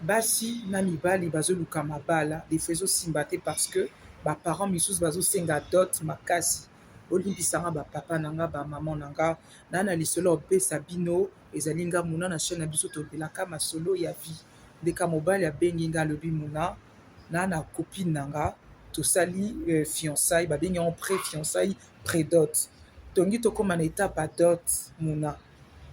Basi na mibali bazo luka mabala de fois ezo simba te parce que ba parents misusu bazo senga dot makasi bolimbisa nga ba papa na nga ba maman na nga na na lisolo ya kopesa bino ezali nga muna na chaine na biso tolobelaka masolo ya vie ndeka mobali abengi nga alobi muna na na copine na nga tosali fiançaille babengi yango pre fiançaille pre dot tongi tokoma na etape ya dot muna.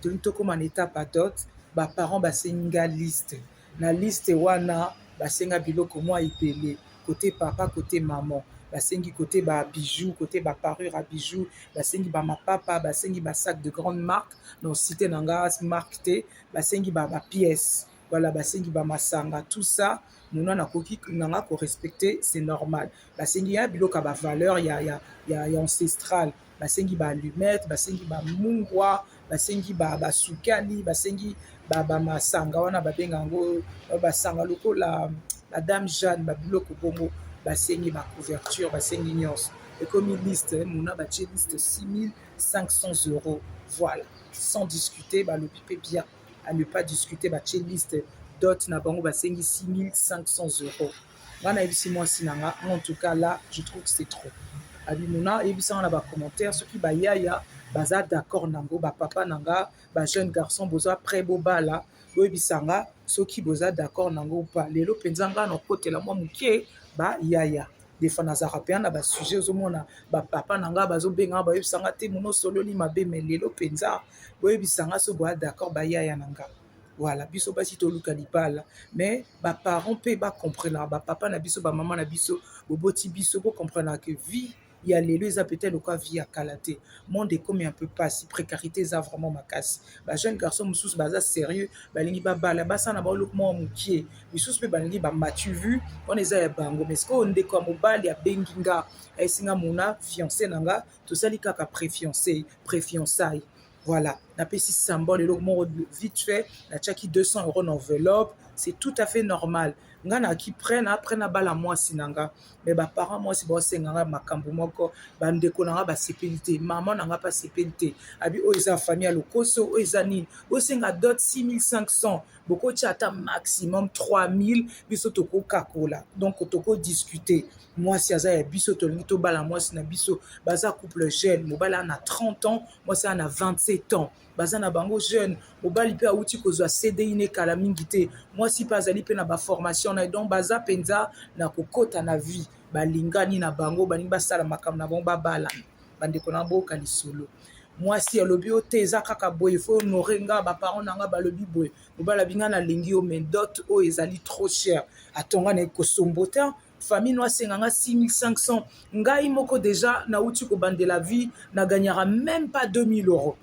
tolingi tokóma na étape ya dot ba parents basengi nga liste na liste wana basenga biloko mwa ebele kote papa kote maman basengi kote ba bijoux kote ba parure ya bijoux basengi ba mapapa basengi ba sac de grande marque na site na nga marque te basengi ba ba pièces wala basengi ba masanga tout ça mona nakoki na nga ko respecter c'est normal basengi ya biloko ya ba valeur ya ya ya ancestral basengi ba allumette basengi ba mungwa basengi ba basukali basengi ba ba masanga wana babenga yango basanga lokola la dame Jeanne ba biloko bongo basengi ba couverture basengi nyonso ekomi liste mona batie liste 6500 euros voilà sans discuter balobi mpe bien à ne pas discuter batie liste dot na bango basengi 6500 euros nga nayebisi mwasi na nga en tout cas là je trouve que c'est trop abimona yebisa nga na ba commentaires soki ba yaya baza d'accord nango ba papa na nga ba jeune garçon boza près bobala boyebisa nga soki boza d'accord nango ou pas lelo mpenza nga na okotela mwa moke ba yaya defa nazalaka mpenza na basujet ozomona bapapa na ngai bazobengaka bayebisa ngai te mono osololi mabe me lelo mpenza boyebisa ngai so boya d'accord bayaya na ngai Voilà, biso basi toluka libala mais ba parents pe ba comprendre ba papa na biso ba maman na biso boboti biso bo comprendre que vie ya lelo eza peut-être lokola vie ya kala te monde ekomi un peu pasi précarité eza vraiment makasi ba jeune garçon mosusu baza sérieux balingi babala basala na baoloko mwa mokie misusu mpe balingi bamatu vu wana eza ya bango mais sikoyo ndeko ya mobali abengi nga ayesinga mona fiancé na nga tosali kaka préfiancé préfiançaille Voilà, napesi symbole eloko moko vite fait, natiaki 200 euros na enveloppe, c'est tout à fait normal. Nga na ki près na près na bala mwasi na nga, mais ba parents mwasi ba senga nga makambo moko, ba ndeko na nga ba sepeli te, maman na nga pa sepeli te. Abi oyo eza famille ya lokoso, oyo eza nini? Bo senga dot 6500, boko tia ata maximum 3000, biso toko kakola. Donc toko discuter. Mwasi aza ya biso, tolingi tobala mwasi na biso, baza couple jeune, mobali ana 30 ans, mwasi aza na 27 ans baza na bango jeune mobali mpe awuti kozwa cdi ne kala mingi te mwasi mpe azali mpe na baformation na ye donc baza mpenza na kokota na vie balingani na bango balingi basala makambo na bango babalana bandeko na boyoka lisolo mwasi alobi yo te eza kaka boye fo honore nga baparent na nga balobi boye mobali abi nga nalingi yo mais dot oyo ezali trop cher atonga na ye kosombo te famille no asenga nga 6500 ngai moko deja nauti kobandela vie na gagnaka même pas 2000 euros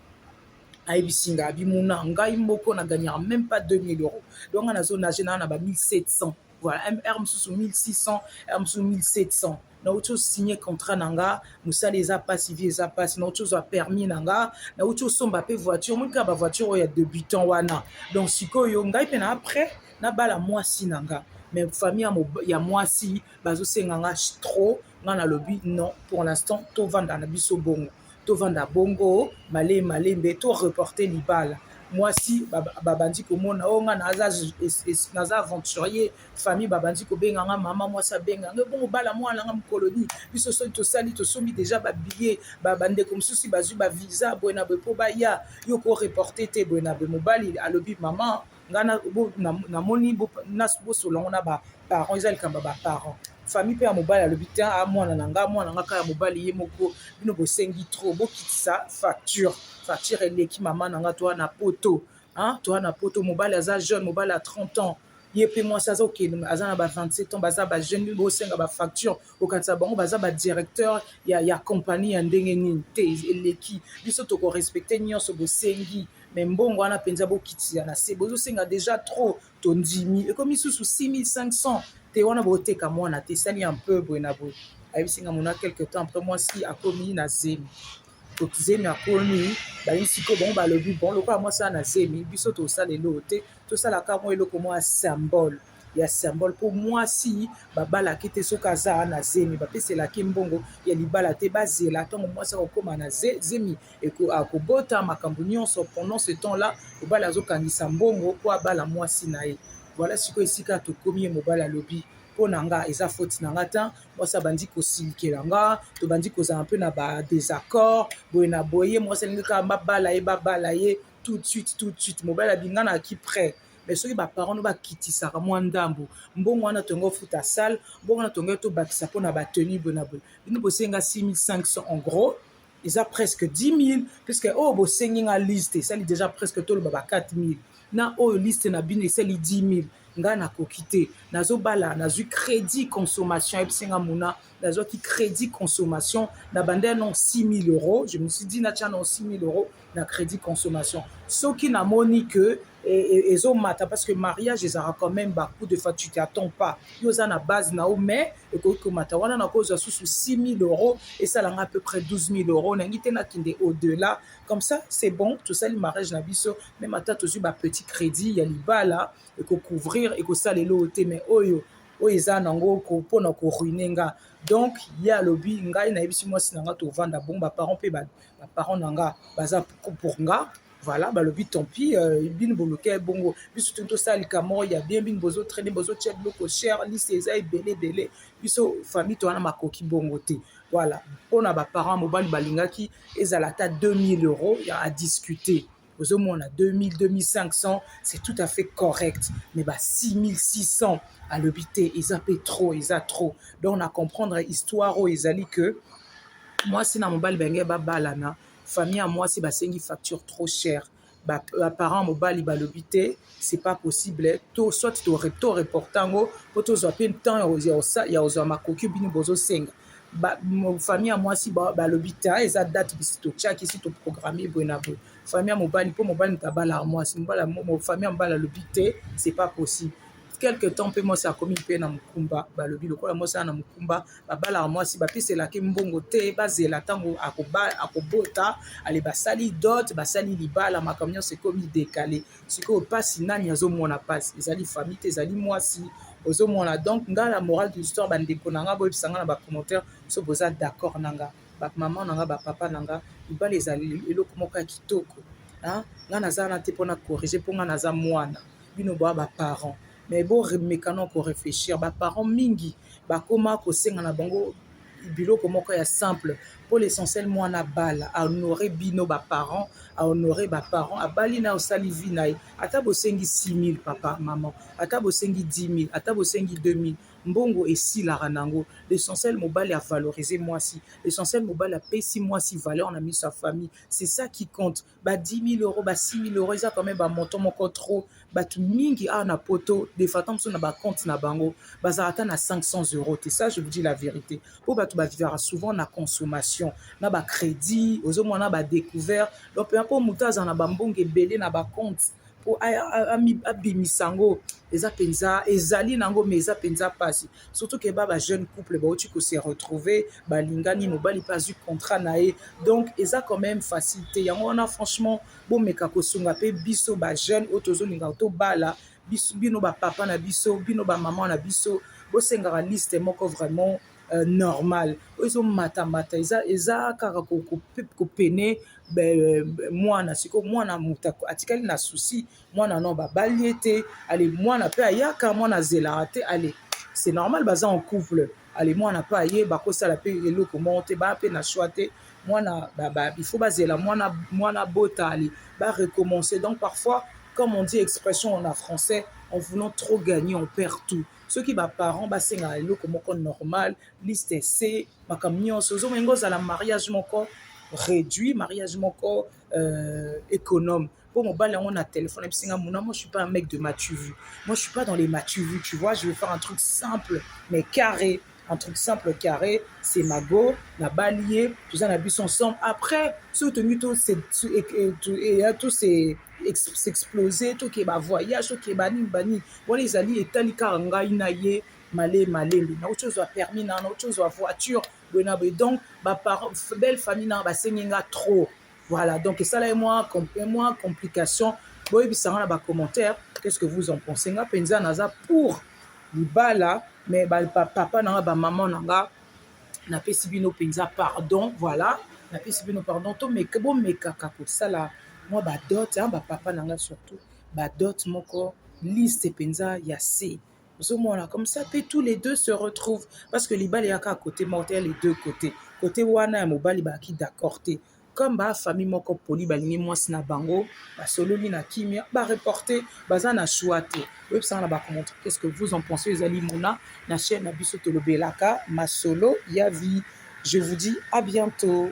ayebisi nga bimuna ngai moko na gagnaka même pas 2000 euros donc nga nazo nage naa na ba 1700 voilà r mosusu 1600 r mosusu 1700 nauti osigne contrat na nga mosala eza mpasi vie eza mpasi nauti ozwa permis na nga nauti osomba mpe voiture monika bavoiture oyo ya debutant wana donc sikoyo ngai mpe na après nabala mwasi na nga mais famille ya, ya mwasi bazosenga nga trop nga nalobi non pour l'instant tovanda na biso bongo tovanda bongo male malembe to reporter libala mwasi babandi komona o oh, nga naza, naza aventurier famille babandi kobenga nga mama mwasi abenga nga bongo bala mwana nga mokolo nini biso soki tosali tosombi deja babillet bandeko mosusu bazwi bavisa boye na boye mpo baya yo ko reporte te boye na boye mobali alobi mama nga na bo na, na moni bo na bo solongo na ba parents eza likamba ba parents famille pe ya mobali alobi te a ah, mwana na nga mwana nga kaya mobali ye moko bino bosengi trop bokitisa facture facture eleki mama na nga toa na poto hein toa na poto mobali aza jeune mobali ya 30 ans ye mpe mwasi aza okende aza na ba 27 ans baza bajeune bosenga bafacture okanisa bango baza badirecteur ya, ya compagnie ya ndenge nini te eleki biso tokorespecte nyonso bosengi mais mbongo wana mpenza bokitisa na se bozosenga deja trop tondimi ekomi susu 6500 te wana boteka mwana te sali ya mpe boye na boye ayebisi nga mona quelque temps après mwasi akomi na zemi zemi akomi bayi sikoyo bango balobi bon lokola mwasi ana zemi biso tosala eloko te tosalaka mwa eloko mwa symbole ya symbole po muasi babalaki te soki aza na zemi bapeselaki mbongo ya libala te bazela ntango muasi akokoma na zemi akobota makambo nyonso pendant ce temps là mobali azokangisa mbongo po abala muasi na ye voilà sikoyo esika tokomi ye mobali alobi mpo na nga eza faute na nga te mwasi abandi kosilikela nga tobandi kozala mpe na ba désaccord boye na boye mwasi alingi kaka babala ye babala ye tout de suite tout de suite mobali abinganaki près mais soki ba parents no bakitisaka mwa ndambu mbongo wana tonga ofuta salle mbongo wana tonga to bakisa pona ba tenue bona boye bino bosenga 6500 en gros eza presque 10000 puisque oyo bosengi nga liste esali déjà presque toloba ba 4000 na oyo liste na bino esali 10000 nga nakoki te nazobala nazwi crédit consommation ayebisi nga mona nazwaki crédit consommation na banda ya non 6000 euros je me suis dit natya non 6000 euros na crédit consommation soki namoni que ezomata e, e, parce que mariage ezalaka quand même bacoup de fois tu t'attends pas yo oza na base na yo mais ekoki komata wana nakozwa susu 6000 euros esalanga à peu près 12000 euros nangi te nakende au delà comme ça c'est bon tosali mariage na biso même ata tozwi bapetit crédit ya libala ekocouvrir ekosalela oyo te mais oyo oyo eza nango pona ko ruiner nga donc ye alobi ngai nayebisi mwasi na nga tovanda bongo ba parents mpe ba parents na nga baza pour nga voilà balobi tant pis euh, bino boluka ye bongo biso toni tosala likambo moko ya bien bino bozo traine bozotya biloko cher liste eza ebele ebele biso famille towana makoki bongo te voilà mpo na baparent mobali balingaki ezala ata 2000 euros ya adiscuter ozomona 2000 2500 c'est tout à fait correct mais ba 6600 alobi te eza mpe trop eza trop donc na comprendre histoire oyo ezali que mwasi na mobali bange babalana famille ya mwasi basengi facture trop chère baparent mobali balobi te c'est pas possible to soit to reporta yango mpo tozwa mpe temps ya kozwa makoki bino bozosenga ba famille ya mwasi balobi ta eza date bisi totiaki si toprogramme boye na boye famille ya mobali mpo mobali moto abalaka mwasi famille ya mobali alobi te c'est pas possible quelque temps mpe mwasi akomi mpe na mokumba balobi lokola mwasi ana na mokumba babalaka mwasi bapeselaki mbongo te bazela ntango akobota ale basali dot basali libala makambo nyonso ekomi dekale sikoyo pasi nani azomona pasi ezali famille te ezali mwasi ozomona donc nga la morale de l'histoire bandeko na nga boyebisa nga na bacommentaire so boza d'accord na nga bamama na nga bapapa na nga libala ezali eloko moko ya kitoko nga naza wana te mpona corrige mpo nga naza mwana bino boya baparent mais bomekana koreflechir baparent mingi bakoma kosenga na bango biloko moko ya simple pour l'essentiel mwana abala a honore bino ba parents a honore ba parents abali na osali vie na ye ata bosengi 6000 papa maman ata bosengi 10000 ata bosengi 2000 mbongo esilaka nango l'essentiel mobali a valoriser mwasi l'essentiel mobali apesi mwasi valeur na miso ya famille c'est ça qui compte ba 10000 euros ba 6000 euros eza quand même ba montant moko trop bato mingi awa na poto de faton mosusu na bacompte na bango bazala ata na 500 euros te ça je vous dis la vérité mpo bato bavivaka souvent na consommation na bacrédit ozomona na badécouvert donc mpenza mpo moto azala na bambongo ebele na bacompte mpo abimisa yango eza mpenza ezali na yango mais eza mpenza mpasi surtout que ba ba jeune couple bauti ko se retrouver balingani mobali mpe azwi contrat na ye donc eza quand même facile te yango wana franchement bomeka kosunga mpe biso ba jeune oyo tozolinga tobala bino ba papa na biso bino ba mama na biso bosengaka liste moko vraiment Euh, normal oyo ezomatamata eza eza kaka kopene euh, mwana sikoyo mwana moto atikali na souci mwana no babali ye te ale mwana mpe ayaka mwana azelaka te ale c'est normal baza en couple ale mwana mpe aye bakosala mpe eloko moko te baa mpe na choix te mwana il faut bazela mwana mwana bota ale ba recommencer donc parfois comme on dit expression en français en voulant trop gagner on perd tout soki baparent basengaka eloko moko normal liste se makambo nyonso ozomoi ngo ozala mariage moko réduit mariage moko euh, économe po mobali yango na téléphone ayebisi nga muna moi je suis pas un mec de matuvu moi je suis pas dans les matuvu tu vois je vais faire un truc simple mais carré un truc simple carré c'est mago nabali ye toza na biso ensemble après soki tolingi to s'explose tokeba voyage tokeba nini banini wana ezali etali kaka ngai na ye male malembe nauti ozwa permis na nauti ozwa voiture boye na boye donc belle famille na basengi nga trop Voilà, donc esala ye mwa mwa complication boyebisa nga na ba commentaire qu'est-ce que vous en pensez nga mpenza naza pour libala mais ba papa na nga ba maman na nga napesi bino mpenza pardon voilà napesi bino pardon tomeka bomekaka kosala mwa badote ba papa na nga surtout badote moko liste mpenza ya se ozomona comme ça pe tous les deux se retrouvent parce que libala eyaka kote moko te ya les deux côté kote wana ya mobali bayaki d'accord te comme ba famille moko poli balingi mwasi na bango basololi na kimia bareporte baza na choix te oyebisanga na bacommentaire qu'est ce que vous en pensez ezali mona na chaîne na biso tolobelaka masolo ya vie je vous dis à bientôt